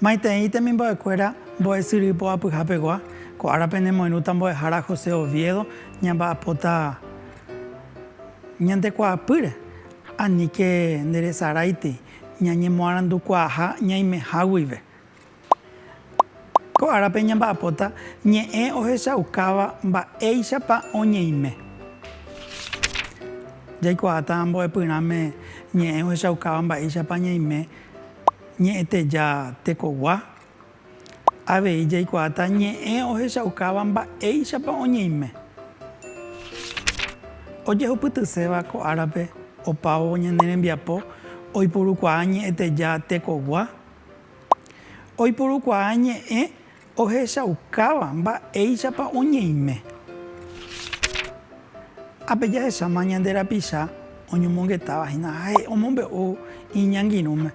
Maitei temimbo'ekuéra mbo'esyry poapyhapegua, ko árape nemoirũta mbo'ehára José Oviedo ñamba'apóta ñande kuaapýre, aníke nderesaráiti. Ñañemoarandukuaaha ñaimeha guive. Ko árape ñamba'apóta ñe'ẽ ohechaukáva mba'éichapa oñeime. Jaikuaáta mbo'epyrãme ñe'ẽ ohechaukáva mba'éichapa ñaime ñe'ẽteja tekogua. Avei jaikuaáta ñe'ẽ ohechaukáva mba'éichapa oñeime. Ojehupytyséva ko árape opávo ñane rembiapo oipurukuaa ñe'ẽteja tekogua. Oipurukuaa ñe'ẽ ohechaukáva mba'éichapa oñeime. Ha pe jahecháma ñande rapicha oñomongetáva hína ha ha'e omombe'u iñangirũme,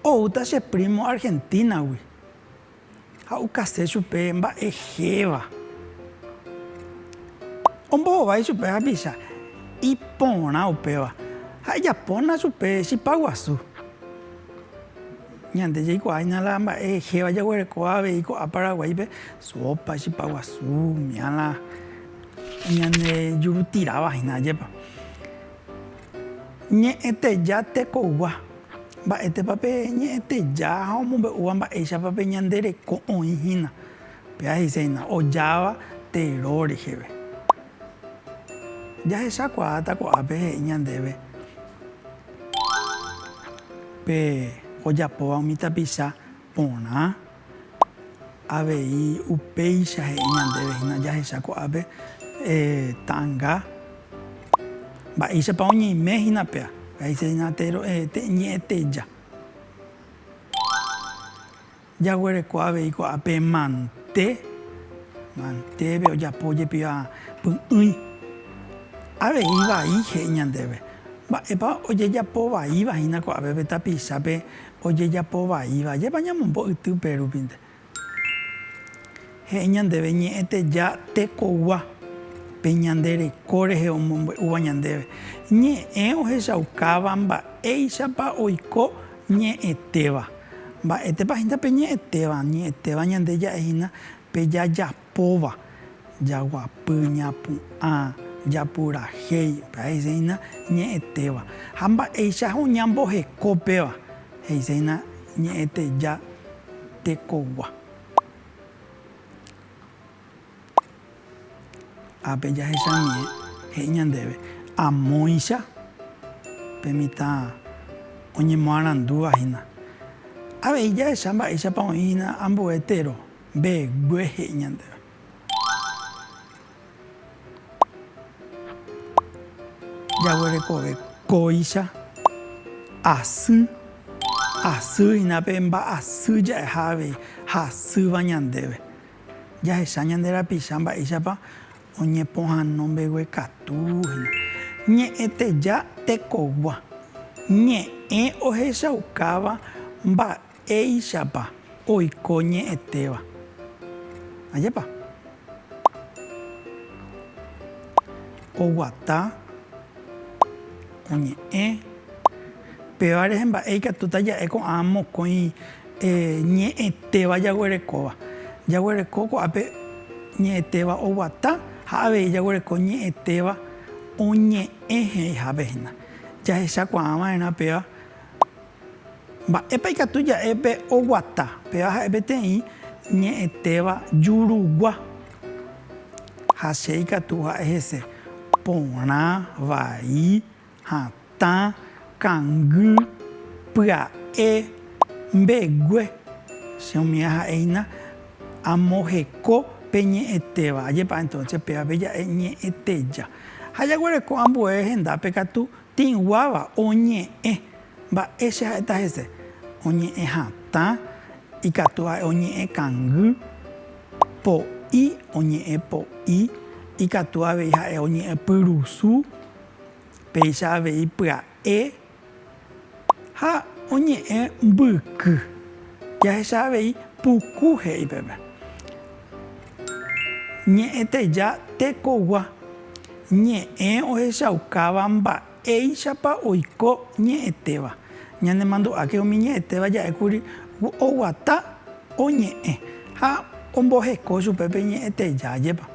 oúta che prímo Argentínagui ha okase chupe mba'e héva. Ombohovái chupe hapicha iporã upéva ha ejapóna chupe chipa guasu. Ñande jaikuaáina la mba'e héva jaguerekóva avei ko'ã Paraguáipe, sópa, chipa guasu, miãla. Ñane jurutirava hína ajépa. Ñe'ẽteja tekogua. Mba'étepa pe ñe'ẽteja ha omombe'úva mba'éichapa pe ñande reko oĩ hína. Péa he'ise hína, ojáva tero reheve. Jahechakuaáta ko'ápe he'i ñandéve pe ojapóva umi tapicha Porã. Avei upéicha he'i ñandéve hína jahecha ko'ápe ta'anga. Mba'éichapa oñeime hína péa. He'ise hína ñe'ẽteja. Jaguereko avei ko'ápe pe mante. Mantépe ojapo jepiva py'ỹi. Avei vai he'i ñandéve. Mba'épa ojejapo vaíva hína ko'ápe pe tapichápe. ojejapo vaíva, ajépa ñamombo yty pe rupinte. He'i ñandéve ñe'ẽteja tekogua pe ñande reko rehe omombe'úva ñandéve, ñe'ẽ ohechaukáva mba'éichapa oiko ñe'ẽtéva. Mba'étepa hína pe ñe'ẽtéva? Ñe'ẽtéva ñande ja'e hína pe jajapo. póva, jaguapy, ñapu'ã, japurahéi, pe aheséina ñe'ẽtéva. Ha mba'éicha ha oñamboheko péva, he'iséina ñe'ẽteja tekogua. Ápe jahechanie he'i ñandéve, amóicha pe mitã oñemoarandúva hína. Avei jahecha mba'éichapa oĩ hína ambue tero. Mbegue he'i ñandéve. Jaguerekove kóicha, asy, asy hína pe mba'asy ja'eha avei ha asýva ñandéve. Jahecha ñande rapicha mba'éichapa oñepohano mbeguekatu hína. Ñe'ẽteja tekogua. Ñe'ẽ ohechaukáva mba'e. Éichapa oiko ñe'ẽtéva. Ajépa. Oguata, oñe'ẽ. Péva rehe mba'e ikatúta ja'e ko'ã mokõi ñe'ẽtéva jaguerekóva. Jaguereko ko'ápe ñe'ẽtéva oguata ha avei jaguereko ñe'ẽtéva oñe'ẽ he'ihápe hína. Jahechakuaava'erã péva. Mba'épa ikatu ja'e pe oguata? Péva ha'e peteĩ ñe'ẽtéva jurugua. Ha che ikatu ha'e hese porã, vai, hatã, kangy, pya'e, mbegue. Che umi aha'e hína amoheko pe ñe'ẽtéva. Ajepa'e entonce péva pe ja'e ñe'ẽteja. Ha jaguereko ambue hendápe katu Tĩguáva oñe'ẽ. Mba'e che ha'éta hese? Oñe'ẽ hatã, ikatu ha'e oñe'ẽ kangy, po'i, oñe'ẽ po'i, ikatu avei ha'e oñe'ẽ pyrusu, péicha avei pya'e, Ha oñe'ẽ mbyky. Jahecha avei puku he'i peve. Ñe'ẽteja tekogua. Ñe'ẽ ohechaukáva mba'éichapa oiko ñe'ẽtéva. Ñanemandu'áke umi ñe'ẽtéva ja'e kuri oguata oñe'ẽ ha omboheko chupe pe ñe'ẽteja jepa.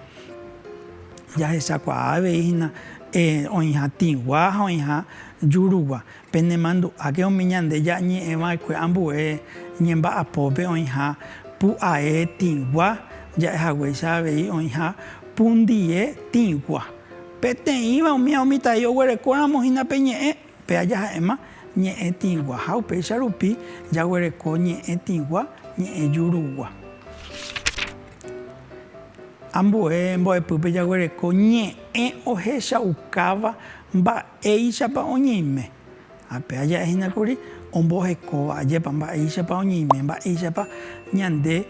Jahechakuaa avei hína oĩha tĩgua ha oĩha jurugua. Penemandu'áke umi ñande ja'ñe'ẽ va'ekue ambue ñemba'apópe oĩha pu'ae tĩgua ja'ehaguéicha avei oĩha pundie tĩgua. Peteĩva umi ha umi tai oguerekóramo hína pe ñe'ẽ, pe aja ha'éma ñe'ẽ tĩgua ha upéicha rupi jaguereko ñe'ẽ tĩgua, ñe'ẽ jurugua. Ambue mbo'epýpe jaguereko ñe'ẽ ohechaukáva Mba'éichapa oñeime? Ha pe aja hína kuri ombohekóva, ajépa, mba'éichapa oñeime, mba'éichapa ñande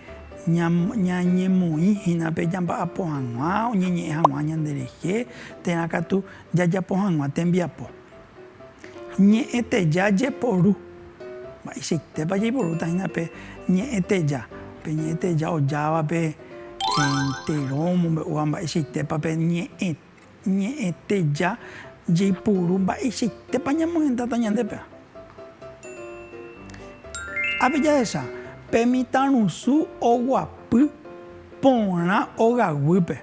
ñañemoĩ hína pe jamba'apo hag̃ua, oñeñe'ẽ hag̃ua ñande rehe, térã katu jajapo hag̃ua tembiapo. Ñe'ẽteja jeporu. Mba'eichaitépa jaiporúta hína pe ñe'ẽteja, pe ñe'ẽteja ojávape, entero omombe'úva mba'eichaitépa pe ñe'ẽ. Ñe'ẽteja jaipuru mba'eichaitépa ñamohendáta ñandépe. Ápe jahecha pe mitãrusu oguapy porã ogaguýpe.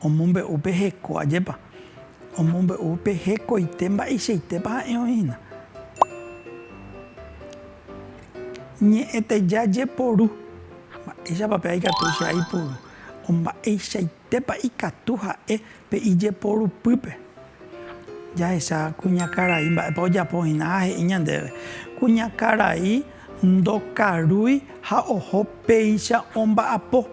Omombe'u pe heko ajépa. Omombe'u pe hekoite mba'eichaitépa ha'e oĩ hína. Ñe'ẽteja jeporu. Mba'éichapa pe aikatu che aipuru. Mba'eichai. Mba'épa ikatu ha'e pe ijeporupýpe? Jahecha kuñakarai mba'épa ojapo hína ha he'i ñandéve, Kuñakarai ndokarúi ha oho péicha omba'apo.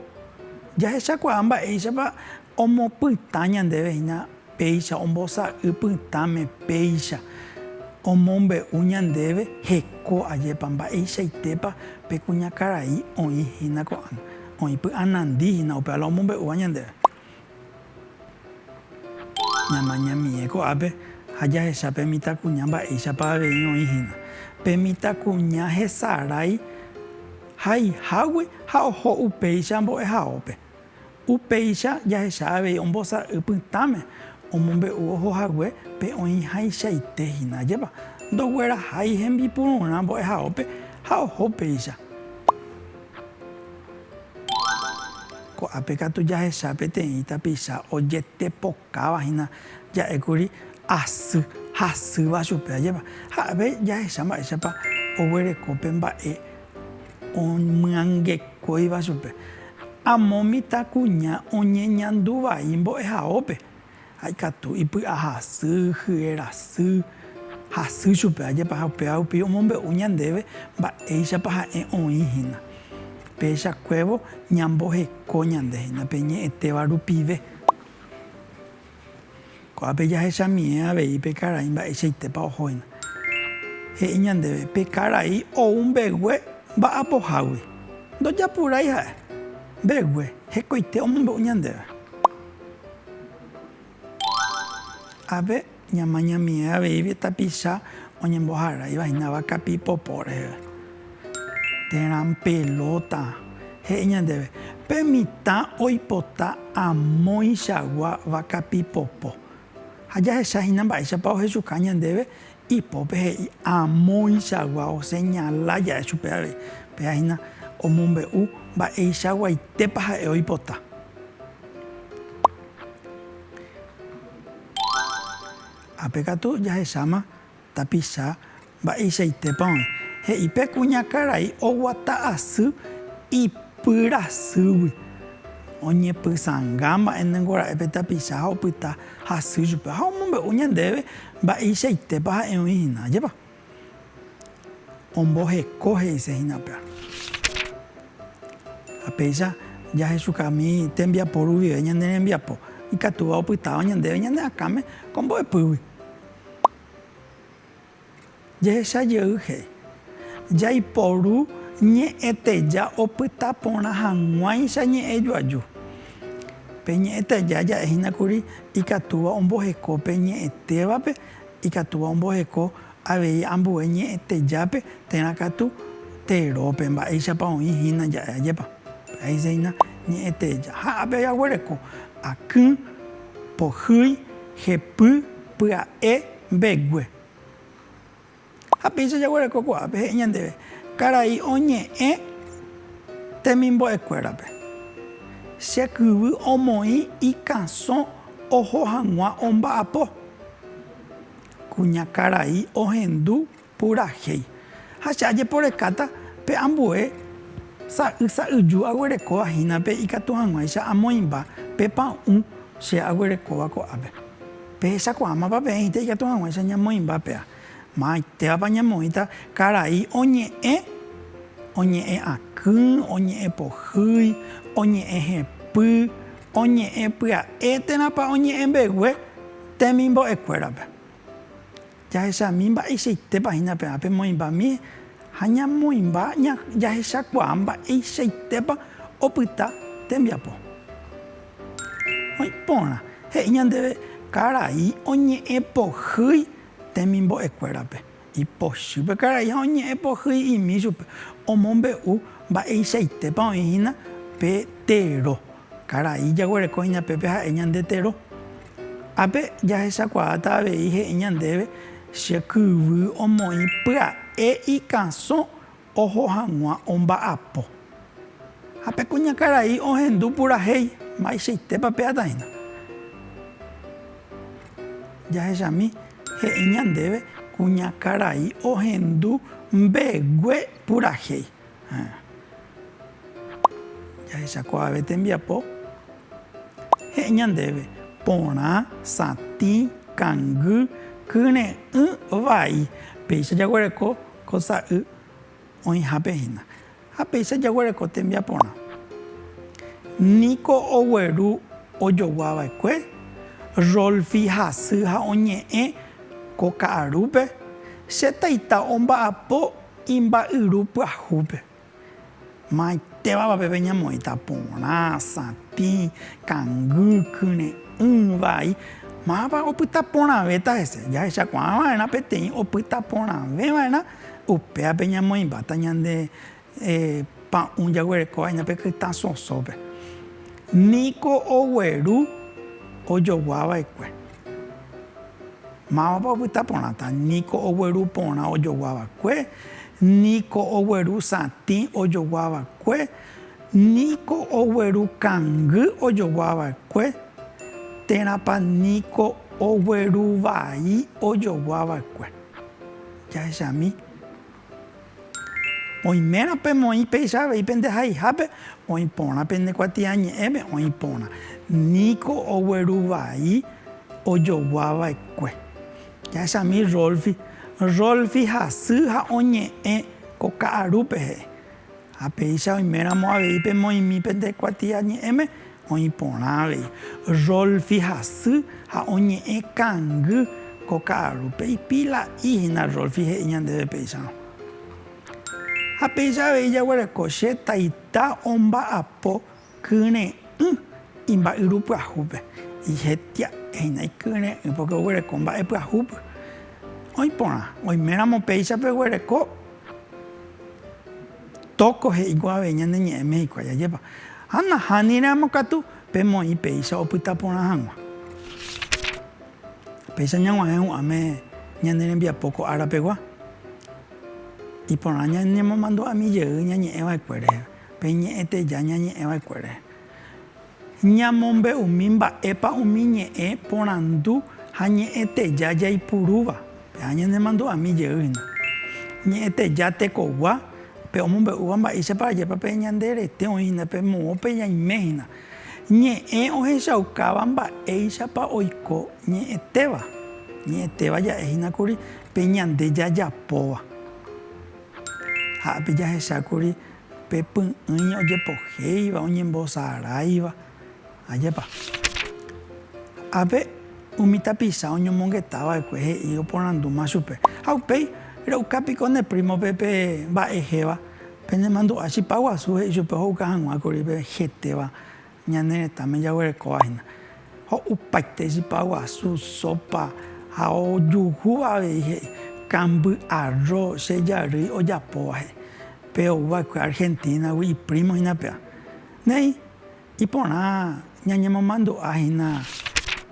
Jahechakuaa mba'éichapa omopytã ñandéve hína Péicha ombosa'y pytãme péicha omombe'u ñandéve heko ajépa mba'eichaitépa pe kuñakarai oĩ hína ko'ág̃a, oĩ py'anandi hína upéva la omombe'úva ñandéve. Ñamañamie ko'ápe ha jahecha pe mitãkuña mba'éichapa avei oĩ hína. Pe mitãkuña hesarái haihágui ha oho upéicha mbo'ehaópe. Upéicha jahecha avei ombosa'y pytãme omombe'u oho hague pe oĩhaichaite hína. Ajépa ndoguerahái hembipururã mbo'ehaópe ha oho upéicha. Ko'ápe katu jahecha peteĩ tapicha ojetepokuaa. Káva hína ja'ékuri asy hasýva chupe, ajépa. Ha'e jahecha mba'éichapa oguereko pe mba'e omyangekóiva chupe. Amo mitãkuña oñeñandu vai mbo'ehaópe, ha ikatu ipy'ahasy, hyenasy, hasy chupe, ajépa. Ha upéva rupi omombe'u ñandéve mba'éichapa ha'e oĩ hína. Péicha kuévo ñamboheko ñande hína pe ñe'ẽtéva rupive. Ko'ápe jahechamíe avei pe karai mba'eichaitépa ohóina. He'i ñandéve, Pe karai ou mbegue mba'apohágui. Ndojapurái ha'e. Mbegue, hekoite omombe'u ñandéve. Ave. Ñamañamie aveígui tapicha oñemboharáivahína kapi popo reheve. Térã pelota, he'i ñandéve, pe mitã oipota amoichagua vakapi popo. Ha jahechahína mba'éichapa ohechuka ñandéve, ipópe he'i amoichagua, oseñala ja'e chupe avei. Péa hína omombe'u mba'eichaguaitépa ha'e oipota. Ápe katu jahecháma tapicha mba'eichaitépa oĩ. He'i pe kuñakarai oguata asy ipyrasýgui. Oñepysãnga mba'e ningorae pe tapicha ha opyta hasy chupe ha omombe'u ñandéve mba'eichaitépa ha'e oĩ hína. Ajépa? Omboheko he'ise hína pe ára. Ha péicha jahechukami tembiapo ruvive ñane rembiapo, ikatúva opytáva ñandéve ñane akãme ko mbo'epýgui. Jehecha jey he'i, Jaiporu ñe'ẽteja opyta porã hag̃uáicha ñe'ẽ joaju. Pe ñe'ẽteja ja'e hína kuri ikatúva omboheko pe ñe'ẽtévape. Ikatúva omboheko avei ambue ñe'ẽtejápe térã katu terópe, mba'éichapa oĩ hína ja'e ajépa. Péicha hína ñe'ẽteja ha ápe jaguereko akỹ, pohýi, jepy, pya'e, mbegue. Ha péicha jaguereko ko'ápe he'i ñandéve, Karai oñe'ẽ temimbo'ekuérape, che kyvy omoĩ ikãsõ oho hag̃ua omba'apo. Kuña karai ohendu purahéi, ha che ajeporekáta pe ambue sa'y sa'yju aguerekóva hína pe ikatu hag̃uáicha amoĩmba pe pa'ũ che aguerekóva ko'ápe. Pehechakuaámapa peẽhíta ikatu hag̃uáicha ñamoĩmba péa. Maymáitévapa ñamoĩta karai oñe'ẽ, oñe'ẽ akỹ, oñe'ẽ pohýi, oñe'ẽ hepy, oñe'ẽ pya'e térãpa oñe'ẽ mbegue temimbo'ekuérape. Jahechami mba'eichaitépa hína pe ápe moĩmbami ha ñamoĩmba jahechakuaa mba'eichaitépa opyta tembiapo. Oĩ porã he'i ñandéve karai oñe'ẽ pohýi. temimbo'ekuérape. Ipochy pe karai ha oñe'ẽ pohýi imi chupe, omombe'u mba'eichaitépa oĩ hína pe tero. Karai jaguereko hína pépe ha'e ñande tero. Ápe jahechakuaáta avei he'i ñandéve che kyvy omoĩ pya'e ikãsõ oho hag̃ua omba'apo. Ha pe kuñakarai ohendu purahéi, Mba'eichaitépa pe'atãína? Jahechami, he'i ñandéve, kuñakarai ohendu mbegue purahéi. Jahechakuaave tembiapo, he'i ñandéve, porã, satĩ, kangy, kyre'ỹ, vai. Péicha jaguereko Ko sa'y oĩhápe hína. Ha péicha jaguereko tembiaporã. Niko ogueru ojogua va'ekue, Rolfi hasy ha oñe'ẽ ko ka'arúpe, Che taita omba'apo imba'yru pyahúpe. Maymáitévapa peve ñamoĩta porã, satĩ, kangy, kyre'ỹ, vai, mávapa opyta porãvéta hese? Jahechakuaa va'erã peteĩ opyta porãve va'erã, upéape ñamoĩmbáta ñande pa'ũ jaguerekóva hína pe kytã sosópe. Niko ogueru ojoguava'ekue. Mávapa opyta porãta, ni ko ogueru porã ojogua va'ekue, ni ko ogueru satĩ ojogua va'ekue, ni ko ogueru kangy ojogua va'ekue, térãpa ni ko ogueru vai ojogua va'ekue. Jahechami. Oimérõ pemoĩ péicha avei pende haihápe, oĩ porã pende kuatiañe'ẽme, oĩ porã niko ogueru vai ojogua vaekue. Jahechami Rolfi. Rolfi hasy ha oñe'ẽ ko ka'arúpe he'i. Ha péicha oiméramo avei pemoĩmi pende kuatiañe'ẽme, oĩ porã avei. Rolf ihasy ha oñe'ẽ kangy ko ka'arúpe. Ipila'i hína Rolf he'i ñandéve péicharõ. Ha péicha avei jaguereko che taita omba'apo Kyre'ỹ imba'yru pyahúpe. Ijetia'ehína ikyre'ỹ pórke oguereko mba'e pyahúpe. Oĩ porã, oiméramo péicha peguereko tóko he'íkuri avei ñane ñe'ẽme hikuái ajépa. Ha nahániramo katu pe moĩ péicha opyta porã hag̃ua. Péicha ñag̃uahẽ hu'ãme ñane rembiapo ko ára pegua, iporã ñanemomandu'ami jey ñañe'ẽ va'ekue reheve. Pe ñe'ẽ teja ñañe'ẽ va'ekuére. Ñamombe'umi mba'épa umi ñe'ẽ porandu ha ñe'ẽ teja jaipurúva. Pe'a ñanemandu'ami jey hína. Ñe'ẽ teja tekogua, pe omombe'úva mba'éichapa ajépa pe ñande rete oĩ hína, pe moõpe ñaime hína. Ñe'ẽ ohechaukáva mba'éichapa oiko ñe'ẽtéva. Ñe'ẽtéva ja'e hína kuri pe ñande jajapóva. Ha'épe jahecha kuri. Pe py'ỹi ojepohéiva, oñembosaráiva, ajépa. Ápe, umi tapicha oñomongeta va'ekue he'i oporandúma chupe, Ha upéi, re'uka piko ne prímope pe mba'ehéva, penemandu'a chipa guasu, he'i chupe ohouka hag̃ua kuri pe hetéva. Ñane retãme jaguerekóva hína ho'upaite chipa guasu, sópa ha ojuhúva avei he'i, kamby, arro, che jarýi ojapóva he'i. Pe ou va'ekue Argentina-gui iprímo hína pea. Néi, iporã ñañemomandu'a hína.